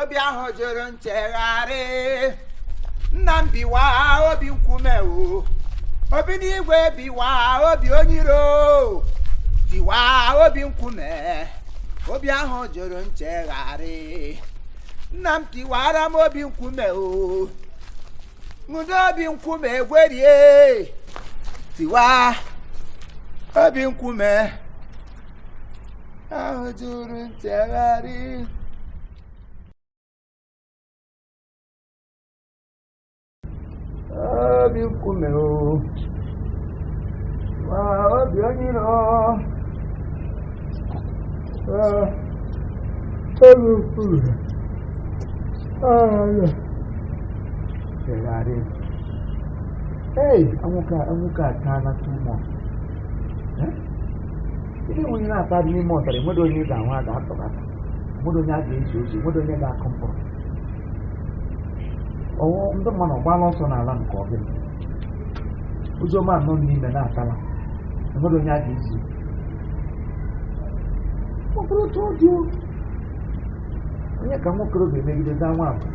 obi ahụ jụrụ nchegharị nna m biwa obi nkume o obi n'igwe biwa obi onye iro tiwa obi nkume obi ahụ jụrụ nchegharị nna m tiwara m obi nkume ọ wụdị obi nkume egwerie tiwa obi nkume ahụ jụrụ nchegharị obi nkume o ma obi onye iro Ah, obi nkume jụrụ nchegharị ei anwụka anwụka ataala too much Eh? Ndị nwunye na-ata adị n'ime ọzara enwedo onye ị ga-ahụ a ga-atọbata enwedo onye a ga-ezi ozi enwedo onye ga-akụ mkpụrụ ọwụ ndị mmadụ ọgbala ọsọ n'ala nke ọbụla ozi ọma nọ n'ime na-atala enwedo onye a ga-ezi ọ bụrụ otu ọ dị o, onye ka nwa okorobịa emegide daa nwa agbọghọ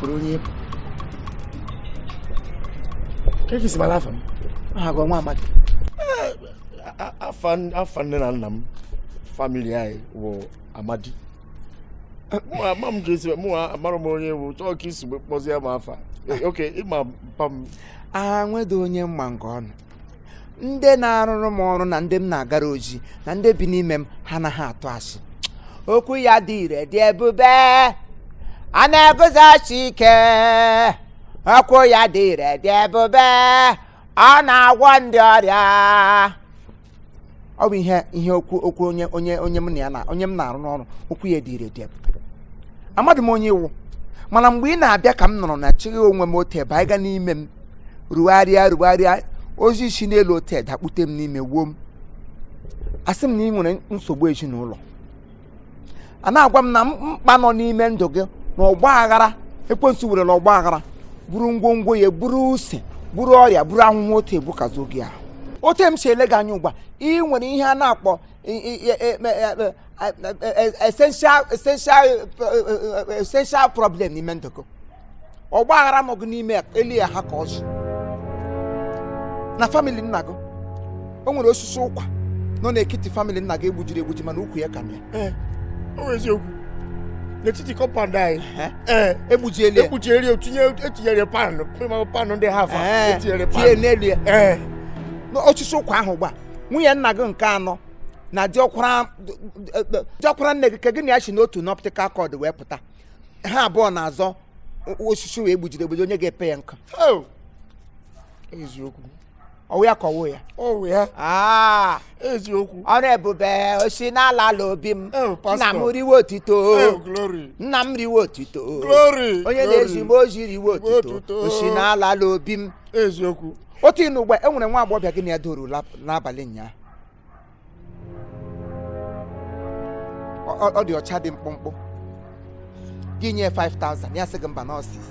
kụrụ onye ịpụ ka i si mara afa m aha gị ọ wụ Amadi afa nne na nna m family anyị wụ Amadi ama m jesi mụ amara m onye wụ chọọ ka i si kpọzie m afa okay ị ma mpa m agha nwedo onye mma nke ọnụ ndị na-arụrụ m ọrụ na ndị m na-agara ozi na ndị bi n'ime m ha anaghị atụ asị okwu ya dị ire dị ebube a na-eguzosi ike okwu ya dị ire dị ebube ọ na-agwọ ndị ọrịa ọ bụ ihe ihe okwu okwu onye onye onye m na ya na onye m na-arụ n'ọrụ okwu ya dị ire dị ebube amadị m onye ị wụ mana mgbe ị na-abịa ka m nọrọ na chịghị onwe m otu ebe anyị ga n'ime m rugharịa rugharịa ozi si n'elu otu dakpute m n'ime wuo m asị m na i nwere nsogbu ezinụlọ a na-agwa m na mkpa nọ n'ime ndụ gị na ọgba aghara ekwensu were na ọgba aghara buru ngwongwo ya buru use buru ọrịa buru ahụhụ otu ebukwasị gị ahụ otu m si ele gị anya ugbu a i nwere ihe a na-akpọ essential essential essential problem n'ime ndụ gị ọgba aghara nọ gị n'ime elu ya ha ka ọzọ na family nna gị o nwere osisi ụkwa nọ n'ekiti family nna gị e gbujiri egbuji mana ukwu ya ka mịa eh, eziokwu n'etiti compound anyị eh, egbujieli egbujieli tinye e tinyere pan pan ndị ha eh, e tinyere pan tinye n'elu ya osisi ụkwa ahụ gba nwunye nna gị nke anọ na diọkwara nne gị ka gị na ya si n'otu n'optical cord wee pụta ha abụọ na-azọ osisi wee gbujiri egbuji onye ga-epe ya nkụ eziokwu ọ wụ ya ka ọ wụ ya ọ wụ ya ah. eziokwu ọrụ ebube o si n'ala ala obi m nna m riwe otito nna m riwe otito onye na-ezi m ozi riwe otito o si n'ala ala obi m eziokwu otu ị nọ ugbu a e nwere nwa agbọghọbịa gị na ya doro n'abalị ụnyaahụ Ọ- ọ ọ dị ọcha dị mkpụmkpụ gị nye 5000 ya sị gị mba na ọ six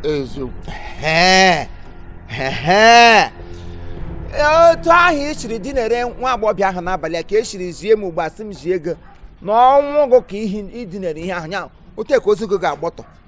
eziokwu Ehe, ehe. Ee, otu ahụ i siri dinere nwa agbọghọbịa ahụ n'abalị a ka e siri zie m ugbu a sị m zie gị na ọnwụ gị ka ihi- i dinere ihe ahụ ya otu a ka ozu gị ga-agbọtọ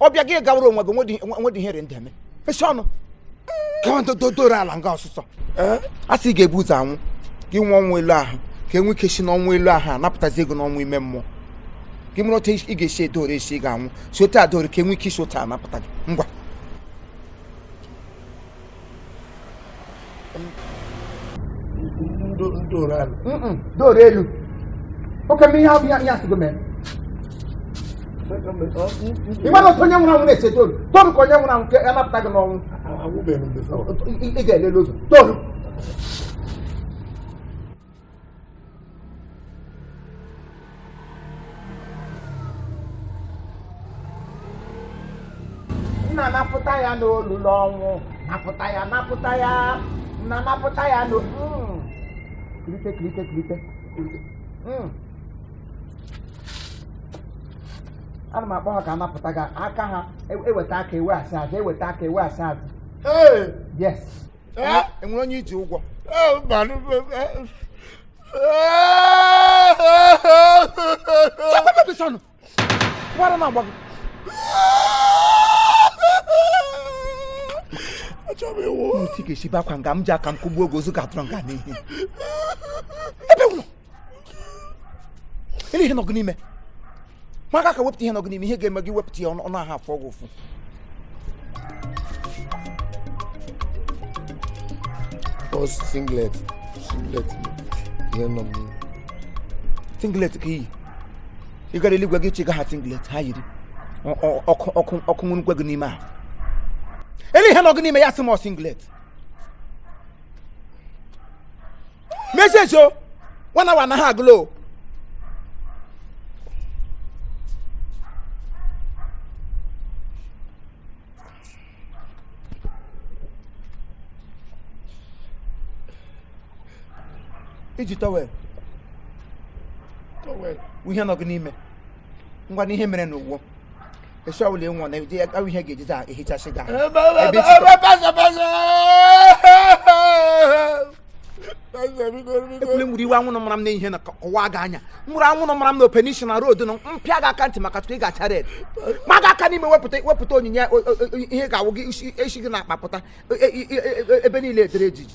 ọ bịa gị gawara onwe gị nwedị ihe rị ndị eme esi ọnụ dodoro ala nga ọsụsọ a sị ị ga-ebu ụzọ anwụ gị nwụọ ọnwụ elu ahụ ka e nwee ike si n'ọnwụ elu ahụ anapụtazi gị n'ọnwụ ime mmụọ gị mụrụ otu ị ga-esi edoro esi ị ga-anwụ si otu a doro ka e nwee ike isi otu a napụta gị ngwa doro elu oke ihe ahụ ya ya sị gị mee ị mara otu onye nwụrụ anwụ na-esi doro doro ka onye nwụrụ anwụ ka a napụta gị n'ọnwụ ị ga-elele ụzọ doro nna napụta ya n'olulu ọnwụ napụta ya napụta ya nna napụta ya n'o Mm. kirite kirite kirite kirite. Mm. ana m akpọ ha ka a napụta gị aka ha e- e weta aka e wee asa azụ e weta aka e wee asa azụ Ee, yes e nwere onye i ji ụgwọ gbara na agbago otu ga-esi bakwa nga m ji aka m kụgbuo gị ozu gị atọrọ nga n'ihi ele ihe nọ gị n'ime maa gị aka wepụta ihe nọ gị n'ime ihe ga-eme gị wepụta ya ọ nahụ afụ gị ụfụ singlet singlet ihe nọ n'ime singlet ka i yi gara eluigwe gị chịga ha singlet ha yiri ọkụ nwụrụkwa gị n'ime ahụ ele ihe nọ gị n'ime ya sị m singlet message o one hour na ha agụla o i ji towel towel ihe nọ gị n'ime ngwanụ ihe mere n'ụwa A sị ọbụla ị nwụọ na ya ka wụ ihe a ga-ejizi ehichasị gị. E ba ba ba pasa pasa. Ekwule muru iwe anwụ mara m na ihe na-akọwa gị anya. Muru anwụ mara m na operation na road na m pịa gị aka ntị maka tupu ị ga-acha red. Maa gị aka n'ime wepụta wepụta onyinye ihe ga-awụ gị isi gị na-akpapụta ebe niile edere ejiji.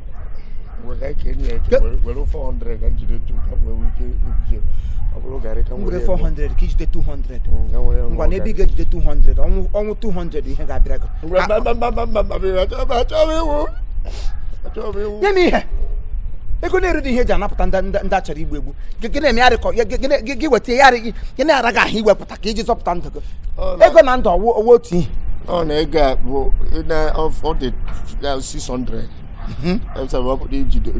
were 400 ka m jide tu ka nwere ike ibuje ọ bụrụ garị ka nwere 400 ka i jide 200 ngwanụ ebe ị ga-ejide 200 ọ wụ 200 ihe ga-abịara gị nye m ihe ego na-erudị ihe e ji anapụta ndị a chọrọ igbu egbu gị na-eme ya rịkọ gị weta ya gị na-ara gị ahụ iwepụta ka i ji zọpụta ndụ gị ego na ndụ ọ wụ ọ wụ otu ihe ọ na ego a bụ na ọ dị 600 ọbụla ijide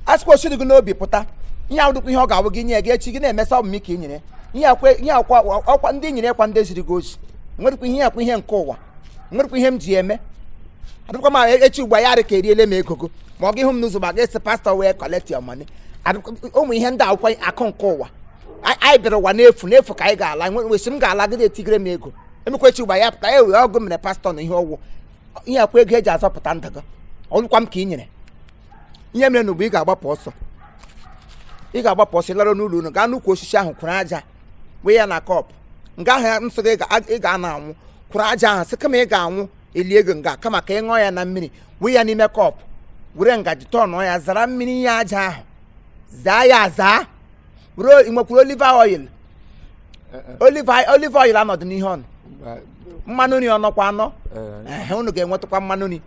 a sịkwa o siri gị n'obi pụta ihe ọ wụdịkwa ihe ọ ga-awụ gị nye gị echi gị na-emesa ọ wụ m ka i nyere ihe akwa ndị nyere kwa ndị ziri gị ozi nwerekwa ihe akwa ihe nke ụwa nwerekwa ihe m ji eme adịkwa m e, echi ugbu a ya dị ka e riele m ego ma ọ ga-ahụ m n'ụzọ ma ga-asị pastor wey collect your money ụmụ ihe ndị akwụkwọ akụ nke ụwa anyị bịara ụwa n'efu n'efu ka anyị ga-ala nwesi m ga-ala gịdị etigere m ego emekwa echi ugbu a ya pụta e wee ọgụ mere pastor na ihe ọgwụ ihe akwa ego e ji azọpụta ndụ gị ọ wụkwa m ka i nyere ihe mere na ugbu ị ga-agbapụ ọsọ ị ga-agbapụ ọsọ ị lara n'ụlọ unu gaa n'ukwu osisi ahụ kuru aja wụọ ya na cup nga ahụ ya nsị gị ị ga- ị ga-ana anwụ kuru aja ahụ sị kama ị ga-anwụ e lie gị nga kama ka ị ṅụọ ya na mmiri wụọ ya n'ime cup were ngaji turnụọ ya zara mmiri ihe aja ahụ zaa ya azaa were o- ị nwekwuru olive oil olive oil- olive oil anọdụ n'ihe ọnụ mmanụ nri ọ nọkwa anọ ehe unu ga-enwetakwa mmanụ nri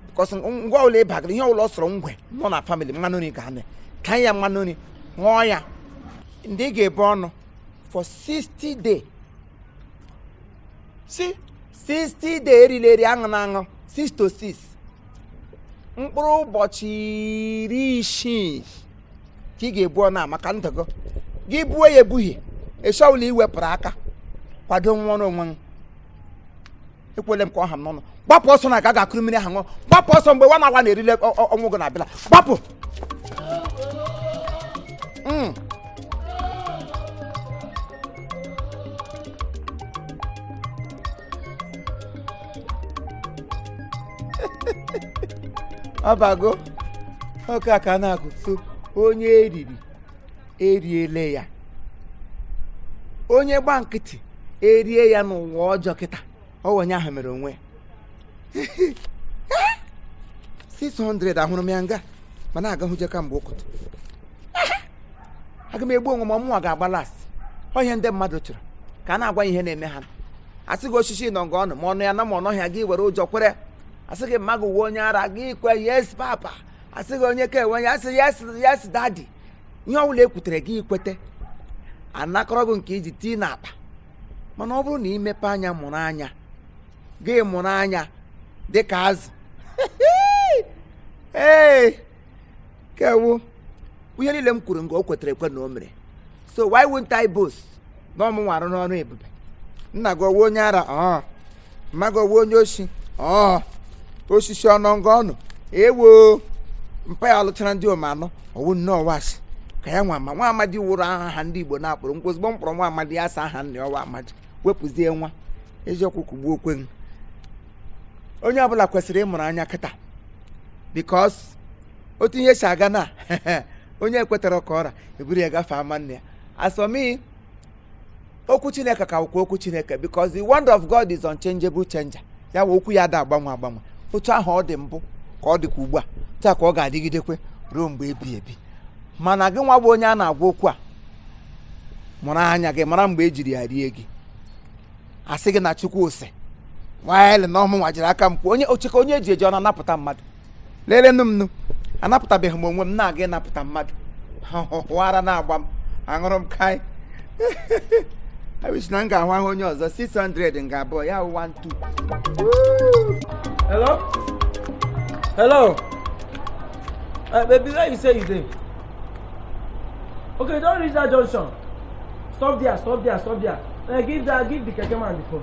because ngwa ọbụla ị bagara ihe ọbụla ọ sọrọ ngwe nọ na family mmanụ nri ga-anọkwa ya mmanụ nri ṅụọ ya ndị ga-ebu ọnụ for 60 days 60 days erila eri aṅụna aṅụ 6 to 6 mkpụrụ ụbọchị iri isii ka ị ga-ebu ọnụ a maka ndụ gị gị buo ya ebughị eshi ọwụla iwepụrụ aka kwado nwụọrọ onwe gị ekwuole m ka ọ ha m n'ọnụ gbapụ ọsọ na-aga ga kuru mmiri ahụ ṅụọ gbapụ ọsọ mgbe nwa na awa na-erile ọnwụ gị na-abịala gbapụ hmm. abago oke aka na-agụ so onye eriri eriele ya onye gba nkịtị erie ya n'ụwa ọjọọ kịta ọ wụ onye ahụ mere onwe ya 600 ahụrụ m ya nga ma na-aga hụje kamgbe ụtụtụ aga m egbu onwe m ọ mụnwa ga-agba last ọ ihe ndị mmadụ chọrọ ka a na-agwa ihe na-eme ha asị gị osisi nọ nga unu ma ọ nọ ya na ma ọ nọhị ya gị were ụjọ kwere asị gị mma gị wụ onye ara gị kwe yes papa asị gị onye ka enwe ya asị yes yes daddy ihe ọ bụla ekwutere gị ikwete anakọrọ gị nke iji tii n'akpa mana ọ bụrụ na imepe anya mụrụ anya gị mụrụ anya dị ka azụ ee kewu ihe niile m kwuru nga o kwetere ekwe na o mere so why won't I boast na ọ mụnwa arụ n'ọrụ ebube nna gị ọ wụ onye ara ọọ mma gị ọ wụ onye oshi ọọ osisi ọ nọ nga unu ewo mpa ya lụchara ndịom anọ ọ wụ nnọọ ashị ka ya nwa ma nwa amadi wụrụ aha ndị igbo na-akpọrọ m kpọọ ozugbo m kpọrọ nwa amadi ya sị aha nna ya ọ wụ amadi wepụzie nwa eziokwu kugbuokwe m onye ọbụla kwesịrị ịmụrụ anya kịta because otu ihe si aga na onye kwetara ka ọ ra eburu ya gafee ama nna ya asọmi okwu chineke ka wụkwa okwu chineke because the word of god is unchangeable changer ya wụ okwu ya da agbanwe agbanwe otu ahụ ọ dị mbụ ka ọ dịkwa ugbu a taa ka ọ ga-adịgidekwe ruo mgbe ebighị ebi mana gị nwa bụ onye a na-agwa okwu a mụrụ anya gị mara mgbe ejiri ya rie gị asị gị na chukwu sị while na ọ mụnwa jiri aka m kwuo onye ocheke onye eji eji ọ na-anapụta mmadụ lelenụ m nụ anapụtabeghị m onwe m na-aga ịnapụta mmadụ ọ wụ ara na-agba m aṅụrụ m kai I wish na m ga-ahụ ahụ onye ọzọ 600 nga abụọ ya wụ 12 Hello? Hello? Uh, baby, where you say you dey? Okay, don reach that junction. Stop there, stop there, stop there. Uh, give that, give the keke man the phone.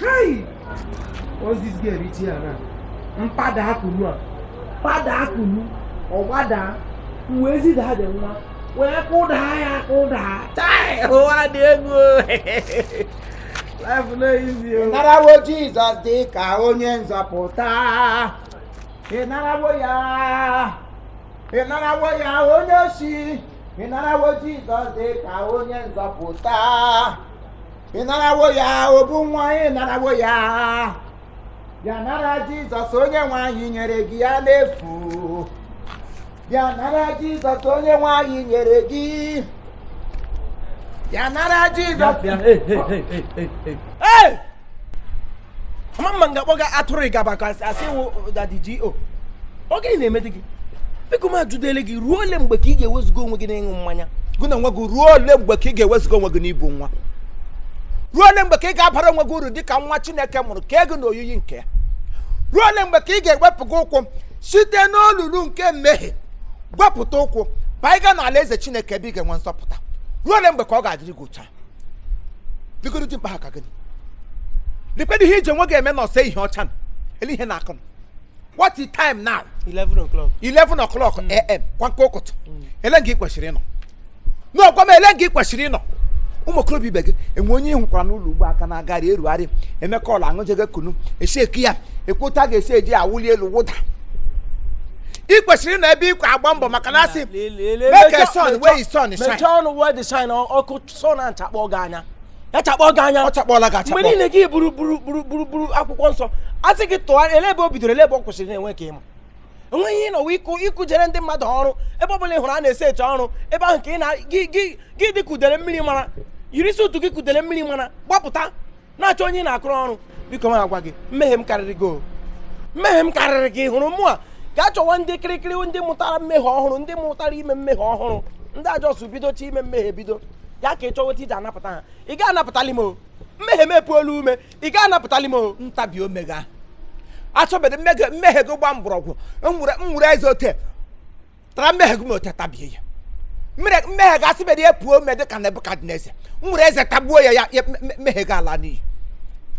Hey! Once this girl reach here now, m padaa kunu a. Mpada akunu. Ọ gbadaa. Uwe ezi daa dị nwa. Wee kụdaa ya kụdaa. Chai! Ụwa dị egwu. Life no easy o. Narawo Jizọs dị ka onye nzọpụta. Ị narawo ya. Ị narawo ya onye oshi. Ị narawo Jizọs dị ka onye nzọpụta. ị narawo ya obu nwa ị narawo ya bịa nara jizọs onye nwe anyị nyere gị ya n'efu bịa nara jizọs onye nwe anyị nyere gị bịa nara jizọs Hey! mama nga kpọga atụrụ ịgaba ka a sị wụ daddy GO ọ gịnị na-eme dị gị biko m ajụdele gị ruo ole mgbe ka ị ga-ewezuga onwe gị n'ịṅụ mmanya gụ na nwa gị ruo ole mgbe ka ị ga-ewezuga onwe gị n'ibu nwa ruo ole mgbe ka ị ga-abara onwe gị uru dị ka nwa chineke mụrụ kee gị na oyiyi nke ya ruo ole mgbe ka ị ga-ewepụ gị ụkwụ site n'olulu nke mmehie gị wepụta ụkwụ baa ịga n'alaeze chineke ebe ị ga-enwe nzọpụta ruo ole mgbe ka ọ ga-adịrị gị ụcha biko okoro dimkpa ha ka gị lekwedo ihe i ji onwe gị eme na ọsọ ihe ọcha na ele ihe na-akụnụ what is time now 11 o'clock 11 o'clock am kwa nke ụkụtụ ele nga ị kwesịrị ịnọ no gwa m ele nga ị kwesịrị ịnọ ụmụ okorobịa ibe gị e nwe onye ị hụkwara n'ụlọ ugbu a ka na-agagharị erugharị emeka ọla aṅụjega kunu esheki ya ekwota ga-esi eji awụli elu wụda ị kwesịrị ịnọ ebe ịkwa agba mbọ maka na asị make a sun while the sun shine mechaa ọnụ while the shine ọkụ sun achakpọ gị anya ya chakpọ gị anya ọ chakpọọla gị achakpọ mgbe niile gị buru akwụkwọ nsọ a sị gị tụọ ele ebe o bidoro ele ebe ọ kwụsịrị na-enwe ka ị ma enweghị ihe nọwa ịkụ ịkụjere ndị mmadụ ọrụ ebe ọbụla ị hụrụ a na-ese eche ọrụ ebe ahụ ka ị na gị dị kudere mmiri mara yiri suit gị kudere mmiri mara gbapụta na-achọ onye ị na-akụrụ ọrụ biko m agwa gị mmehie m karịrị gị mmehie m karịrị gị hụrụ mụwa gaa chọwa ndị kirikiri ndị mụtara mmehie ọhụrụ ndị mụtara ime mmehie ọhụrụ ndị a just bidocha ime mmehie bido ya ka ị chọwa otu i ji anapụta ha ị ga anapụtali m o mmehie m epuola ome ị ga anapụtali m o ntabi ome ga-achọbido mmehie gị gba mgbọrọgwụ nwere eze ote tara mmehie gị ma ote tabie ya mmehie gị asị mere ya puo ome dị ka nebukadneza nwere eze tagbuo ya ya ya- mme- mmehie gị ala n'iyi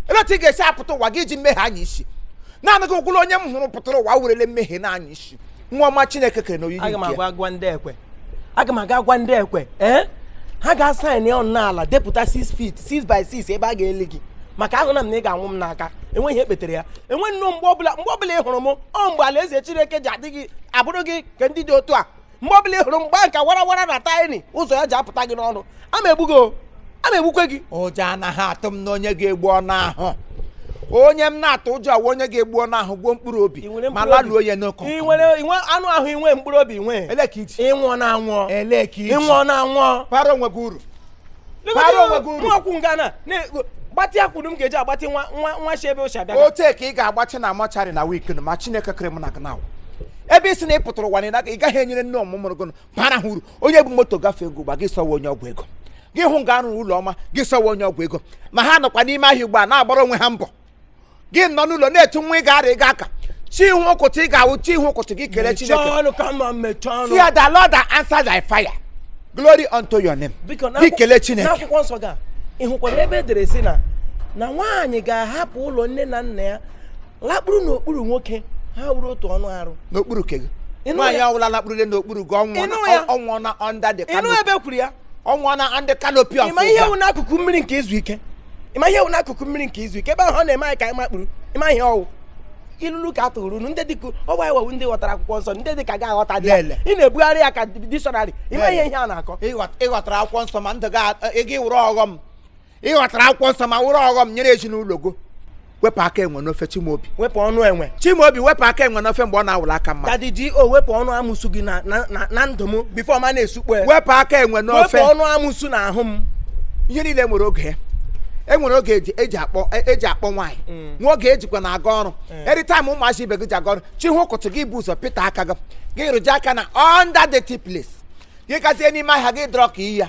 ele otu ị ga-esi apụta ụwa gị iji mmehie anya isi naanị gị wụrụ onye m hụrụ pụtara ụwa werele mmehie na-anya isi nwa ọma chineke kere na oyiyi nke ya aga m aga agwa ndị ekwe ee ha ga-asaịn ya ọnụ n'ala depụta 6 feet 6 by 6 ebe a ga-eli gị maka ahụna m na ị ga-anwụ m n'aka enweghị ihe kpetere ya enwe nnọọ mgbe ọbụla ị hụrụ m ọ mgbe alaeze chineke ji adị gị abụrụ gị ka ndị dị otu a mgbe ọbụla ị hụrụ m gbaa nka wara wara na tiny ụzọ ya ji apụta gị n'ọnụ ama egbu gị ama egbukwe gị ụjọ anaghị atụ m na onye ga-egbu anụ ahụ onye m na-atụ ụjọ awụ onye ga-egbu anụ ahụ gbuo mkpụrụ obi Ị nwere ma mkpụrụ laluo obi? ya n'ọkụ Ị nwere inwe anụ ahụ inwe mkpụrụ obi nwee ele ka iji ịnwụọ na anwụọ ele ka iji ịnwụọ na anwụọ bara onwe gị uru bara onwe gị uru ọkwụ ngana gbatị akwụrụ m ga-eji agbatị nwa nwa nwa shi ebe o shi abịa otu a ka ị ga-agbatị na mortuary na wiki ma chineke kere m na gị nawa ebe ị sị na ị pụtara ụwa na ị gaghị enyere nne mụrụ gị bara ha uru onye bu moto gafee ugbu a gị sị ọwụ onye ọgwụ ego gị hụ nga arụrụ ụlọ ọma gị sị ọwụ onye ọgwụ ego ma ha nọkwa n'ime ahịa ugbu a na-agbara onwe ha mbọ gị nọ n'ụlọ na-etu nwa ị ga-ara ị ga-aka chi hụ ụkụtụ ị ga-awụ chi hụ ụkụtụ gị kelee mechie chineke ọnụ ka mma mechie ọnụ fear the lord that answer by fire glory unto your name Biko, gị n'akwụ- kelee chineke n'akwụkwọ nsọ ga ị hụkwara ebe edere si na na nwaanyị ga-ahapụ ụlọ nne na nna ya lakpuru n'okpuru nwoke ha wụrụ otu anụ arụ n'okpuru ke gị Ị nụ nwaanyị ya? ọwụla lakpụrụle n'okpuru gị Ị nụ ọnwụọna ya? ọnwụọna under the ịnụ canopy ebe kwuru ya ọnwụọna under canopy of ị ma ihe God. wụ n'akụkụ mmiri nke izu ike ịma ihe wụ n'akụkụ mmiri nke izu ike ebe ahụ ọ na-eme anyị ka anyị makpuru ịma ihe ọwụ ilulu ka atụrụ unu ndị dịka ọwụ anyị wa wụ ndị ghọtara akwụkwọ nsọ ndị dịka gị aghọtadị ị na-ebugharị ya ka dictionary ịma ihe ihe a na-akọ ịghọtara akwụkwọ nsọ ma ndụ gị ịghọtara akwụkwọ nsọ ma wụrụ ọghọm nyere ezinụlọ gị o wepụ aka enwe n'ofe Chimaobi wepụ ọnụ enwe Chimaobi wepụ aka enwe n'ofe mgbe ọ na-awụla aka mmadụ Daddy G.O wepụ ọnụ amụsụ gị na na ndụ m before ma na-esukpo ya wepụ aka enwe n'ofe wepụ ọnụ amụsụ na ahụ m ihe niile nwere oge ya e nwere oge eji akpọ nwaanyị mm. nwee oge ejikwa na aga ọrụ mm. anytime ụmụazị ibe gị ji aga ọrụ chi hụ ụkụtụ gị bu ụzọ pịta aka gị gị rụje aka na under the place gị gazie n'ime ahịa gị drọk iyi ya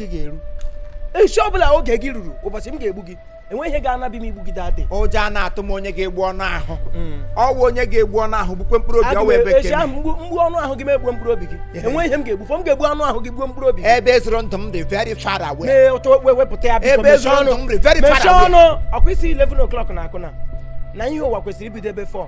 gị ga-eru echi ọbụla oge gị ruru ụbọchị m ga-egbu gị enweghị ihe ga-anabi m igbu gị Daddy ụjọ anaghị atụ m onye ga-egbu anụ ahụ hmm. ọwụ onye ga-egbu anụ ahụ gbukwe mkpụrụ obi ọwụ ụbọchị ahụ m gbuo anụ ahụ gị m egbuo mkpụrụ obi gị enweghị ihe m ga-egbufọ m ga-egbu anụ ahụ gị gbuo mkpụrụ obi ebe ezoro ndụ m dị very far away mee ụtọ wepụta ya biko mechie ọnụ mechie ọnụ ọkwa ị sị 11 o'clock na akụna na ihe ụwa kwesịrị ibido ebe 4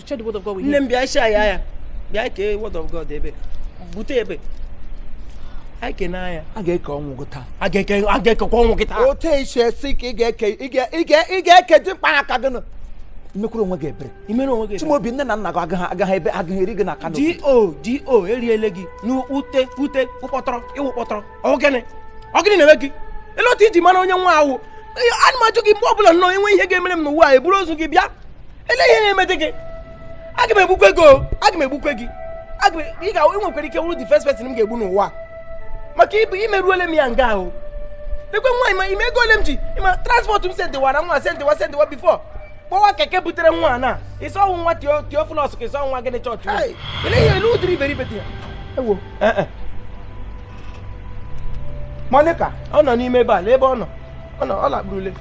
Share the word of God with him. Nne m bịa share ya ya. Bịa kee word of God ebe. Bute ebe. Anyị kene anya. A ga-eke ọnwụ gị taa. A ga-eke a ga-ekekwa ọnwụ gị taa. Otu esi esi ka ị ga-eke ị ga ị ga ị ga-eke dị mkpa aka gị nụ. Imekwuru onwe gị ebere. Imere onwe gị ebere. Chimaobi nne na nna gị agaghị agaghị ebe agaghị eri gị na Kano. DO DO eriele gị n'ute ute ụkpọtọrọ ịwụ kpọtọrọ. Ọ gịnị? Ọ gịnị na-eme gị? Ele otu iji mara onye nwa awụ. Ana m ajụ gị mgbe ọ bụla nnọọ enwe ihe ga-emere m n'ụwa a eburu ozu gị bịa ele ihe na-emete gị aga m egbukwe gị o aga m egbukwe gị aga m ị nwekwara ike wụrụ the first person m ga-egbu n'ụwa maka i meruole m ya nga ahụ lekwe nwa ma ị ma ego ole m ji ị ma transport m sendịwara nwa sendịwa sendịwa before kpọwa keke butere nwa na ị sị ọ wụ nwa Theophilus ka ị sị ọ wụ nwa gịnị chọọchị Hey, ele ihe ele ụdịrị iberibe dị ya ewo eh, eh. monica ọ nọ n'ime ebe a lee ebe ọ nọ ọ nọ ọ lakpurule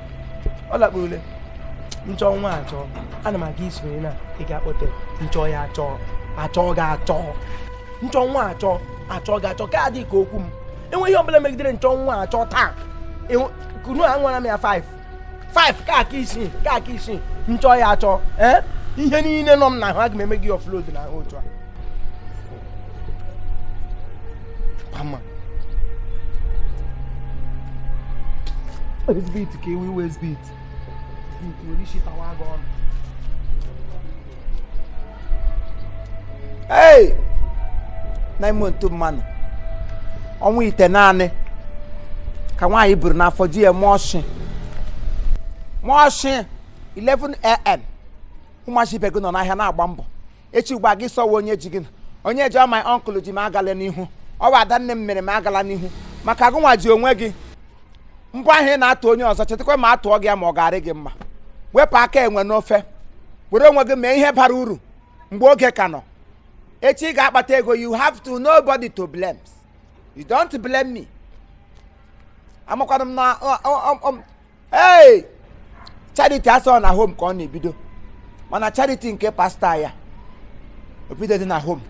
ọ lakpuruole nchọ nwa achọ ana m aga ị sịrị na ị ga-akpọte nchọ ya achọ achọ ga achọ nchọ nwa achọ achọ ga achọ ka adị ka okwu m enweghị ihe ọbụla megidere nchọ nwa achọ taa ka unu anwara m ya 5 5 ka aka isii ka aka isii nchọ ya achọ ee ihe niile nọ m n'ahụ aga m eme gị offload n'ahụ otu a Waste bin ka ị wụ waste bin. Waste bin nwere isi tawa gị ọnụ. Hey! Na ime otu mmanụ. Ọnwa itenaanị ka nwaanyị buru n'afọ ji ya mụọ ọshị. Mụọ ọshị 11 a.m. Ụmụazị ibe gị nọ n'ahịa na-agba mbọ. echi ugbu a gị sọwa onye ji gị na onye ji my uncle ji m agala n'ihu ọ bụ ada nne m mere m agala n'ihu maka gị nwa ji onwe gị mbọ ahụ ị na-atụ onye ọzọ chetakwa ma a tụọ gị ya ma ọ ga-arị gị mma wepụ aka enwe n'ofe were onwe gị mee ihe bara uru mgbe oge ka nọ echi ị ga-akpata ego you have nobody to blame you don't blame me amakwana m na ọ- ọ- ọ- ọ- ee charity a sị na home ka ọ na-ebido mana charity nke pastor a o bidodị na home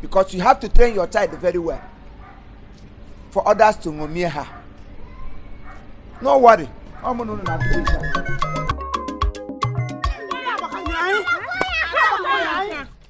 because you have to train your child very well for others to ṅomie ha no worry ọ mụ na unu na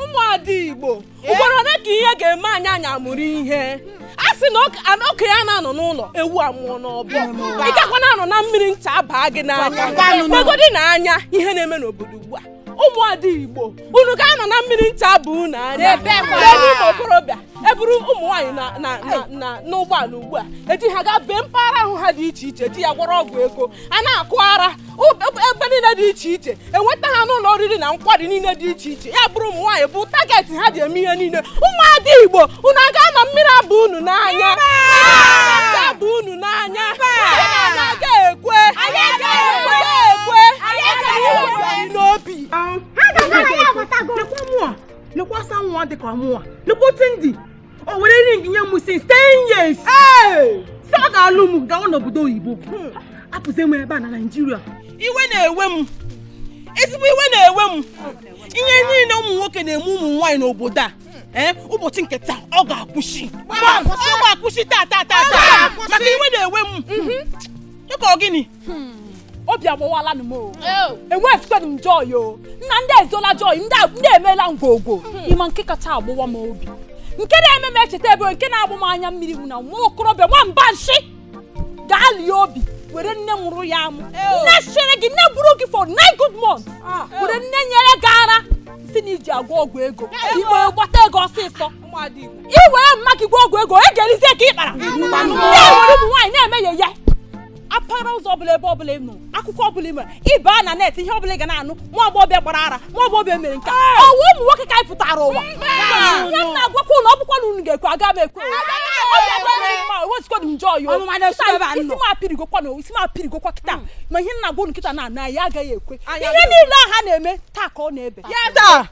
ụmụada igbo ugboro ole ka ihe ga-eme anyị anyị amụrụ ihe a sị na okenye ana-anọ n'ụlọ ewu amụọ n'ọbọ ị gakwa na-anọ na mmiri ncha baa gị n'anya legodinụ anya ihe na-eme n'obodo ugbu a ụmụada igbo unu ga-anọ na mmiri ncha baa unu anya ebe ụmụ okorobịa eburu ụmụ nwaanyị na na na na n'ụgbọala ugbu a eji ha gaa bee mpaghara ahụ ha dị iche iche eji ya gwọrọ ọgwụ ego a na-akụ ara ụ- ebe ebe niile dị iche iche enweta ha n'ụlọ oriri na nkwari niile dị iche iche ya bụrụ ụmụ nwaanyị bụ target ha ji eme ihe niile ụmụada igbo unu aga-anọ mmiri abaa unu n'anya Mmiri abaa unu n'anya Unu aga ekwe n'obi ha ga-aga ya abatago lekwasa nwa dị ka mụnwa lekwute ndị o were ring nye m since 10 years sị ọ ga-alụ m gawa n'obodo oyibo hmm. hapụzi m ebe a na naijiria iwe na-ewe m ezigbo iwe na-ewe m ihe niile ụmụ nwoke na-eme ụmụ nwaanyị n'obodo a ee eh, ụbọchị nke taa ọ ga-akwụsị ọ ga-akwụsị taa taa taa taa maka iwe na-ewe m dịka mhm. ọ gịnị hmm. obi agbawala m o enweghịzikwanụ m joy o nna ndị ezola joy ndị emeela ngwogwo hmm. ị ma nke kacha agbawa m obi nke na-eme m echeta ebe nke na-agba m anya mmiri bụ na nwa okorobịa nwa mba nshi gaa lie obi were nne mụrụ ya amụ nne chere gị nne buru gị for nine good months ah. were nne nyere gị ara sị na i ji agwọ ọgwụ ego igbe gbata ego ọsịsọ i were mama gị gwọ ọgwụ ego egerizie ka ị kpara ndị were ụmụ nwaanyị na-emeghe ya apara ụzọ ọbụla ebe ọbụla ị nụ akụkọ ọbụla ime ị ba na net ihe ọbụla ị ga na-anụ nwa agbọghọbịa gbara ara nwa agbọghọbịa mere nke a ọ wụ ụmụ nwoke ka anyị pụtara ụwa ihe m na-agwakwa unu ọ bụkwa na unu ga-ekwe aga m ekwe isi m apịrịgokwa na isi m apịrịgokwa kịta mm. ma ihe m na-agwa unu kịta na ya agaghị ekwe ihe niile a ha na-eme taa ka ọ na-ebi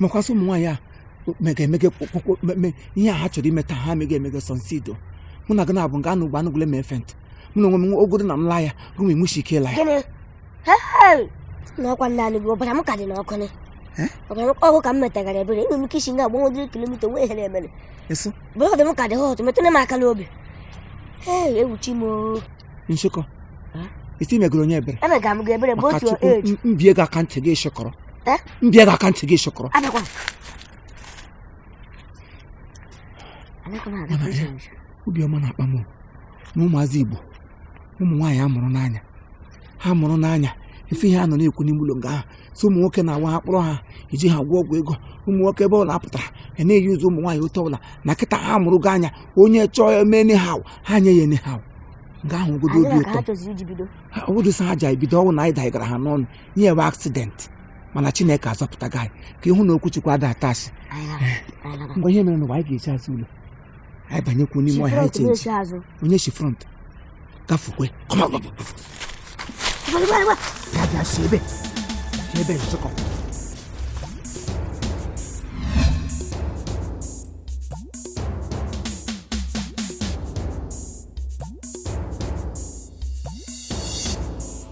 mekwasị ụmụ nwaanyị a mega emege kpọkpọ me ihe a ha chọrọ ime taa ha mega emege sọnsido mụ na gị na-abụ nga anụ ugbo anụ gwule m efent mụ na onwe m ogodo na m laa ya gụ m enwechi ike ịla ya gịnị Hey! n'ọkwa ndị anụ gị ọbara m ka dị n'ọkụ ni Eh? ọbara m ọkụ ka m metagara ebere enwere m ike isi nga agbanwe dịrị kilomita wee here emere eso blood m ka dị hot metụrụ m aka n'obi ee ewuchi m oo. nshekọ Eh? isi megoro onye ebere emega m gị ebere bụ maka otu chukwu age m- m bie gị aka ntị gị shọkọrọ eh? m bie gị aka ntị gị shọkọrọ obiọma na-akpa m na ụmụazị Igbo ụmụ nwaanyị a mụrụ n'anya ha mụrụ n'anya ife ihe a nọ na-ekwu n'ime ụlọ nga ahụ so ụmụ nwoke na-awa ha kpọrọ ha iji ha gwọ ọgwụ ego ụmụ nwoke ebe ọ na-apụtara ya na-euse ụmụ nwaanyị otu ọbụla na kịta ha mụrụgo anya onye chọọ eme anyhow ha nye ya anyhow nga ahụ ogodo obi ụtọ ọbụdụsa ha ji ebido ọnwụ na anyị daigara ha n'ọnụ i nwee accident mana chineke azọpụta gị ka ị hụ na okwu chukwu ada atụ asị ngwa ihe mere na ụwa anyị ga-eji azụ ụlọ anyị banyekwu n'ime ọhịa anyị chenji onye shi front gafukwe bịa si ebe si ebe nzụkọ